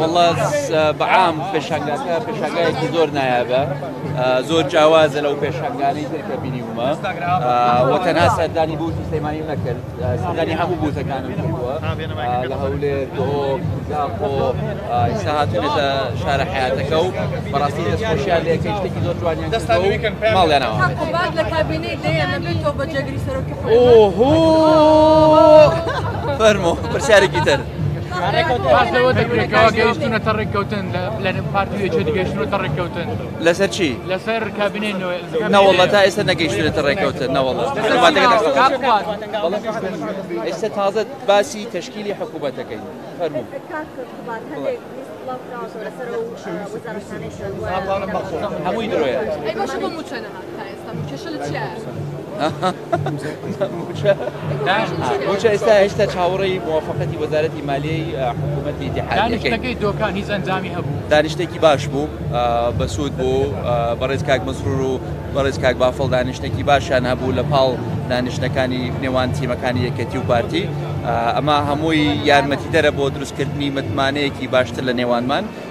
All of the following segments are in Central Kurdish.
وەڵا بەعام پێشنگاکە پێشنگایەکی زۆر نایابە زۆر جیاوازە لەو پێشنگانی ترکە بینیومە وە تەنها سەردانی بوو سلەیمانی نەکرد سەردانی هەموو بوتەکانم کردووە لە هەولێر تۆ زاخۆ ئیستا هاتونێتە شارە حیاتەکە و بەڕاستی دەستخۆشیان لە یەکەی شتێکی زۆر جوانیان ماڵیانەوە لە کابینەی دەیان نەبێت تۆ بە جێگری سەرۆکی فەرمۆ پرسیارێکی تر. باس لەوە دەکرێت کەوا گەیشتونەتە ڕێککەوتن لە پارتی وێچێتی گەیشتونەتە ڕێککەوتن لەسەر چی لەسەر کابینەی نەوەڵە تا ئێستا نەگەیشتونێتە ڕێککەوتن نەوەڵە ئێستا تازە باسی تشکیلی حکوومەتەکەی فەرمو هەمووی درۆیە موچە ئێستا هێشتا چاوەڕێی مووافقەتی وەزارەتی مالیەی حکوومەتی دیحانەکەی دۆکان هیچ ئەنجامی هەبوو دانیشتێکی باش بوو بەسوود بوو بەڕێز کاک مەسرور و بەڕێز کاک بافڵ دانیشتێکی باشیان هەبوو لە پاڵ دانیشتەکانی نێوان تیمەکانی یەکەتی و پارتی ئەمە هەمووی یارمەتی دەرە بۆ دروستکردنی متمانەیەکی باشتر لە نێوانمان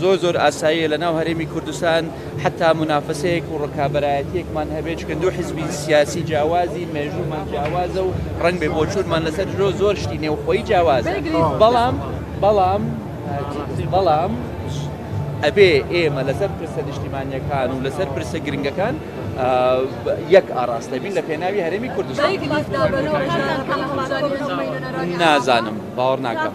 زۆر زۆر ئاساییە لە ناو هەرێمی کوردستان حەتا مونافەسەیەک و ڕکابەرایەتیەکمان هەبێت چونکە دوو حزبی سیاسی جیاوازین مێژوومان جیاوازە و ڕەنگ بێ بۆچوونمان لەسەر درۆ زۆر شتی نێوخۆی جیاوازە بەڵام بەڵام بەڵام ئەبێ ئێمە لەسەر پرسە نیشتیمانیەکان و لەسەر پرسە گرنگەکان یەک ئاراستە بین لە پێناوی هەرێمی کوردستان نازانم باوەڕ ناکەم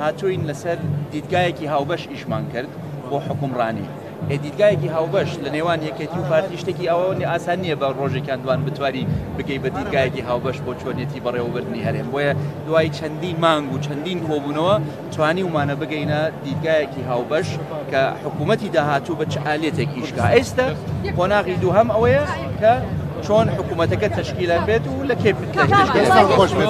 هاتووین لەسەر دیدگایەکی هاوبەش ئیشمان کرد بۆ حوکمڕانی، ئێ دیدگایەکی هاوبەش لە نێوان یەکێتی و پارتی شتێکی ئەوەنی ئاسان نییە بە ڕۆژێک یان دوان بتوانی بگەی بە دیدگایەکی هاوبەش بۆ چۆنیەتی بەڕێوەبردنی هەرێم بۆیە دوای چەندین مانگ و چەندین کۆبوونەوە توانیومانە بگەینە دیدگایەکی هاوبەش کە حکوومەتی داهاتوو بە چ ئالێتێک ئیش بکا ئێستە قۆناغی دووهەم ئەوەیە کە چۆن حکوومەتەکە تەشکیلە بێت و لە کێ پێ تەشکیل بێت.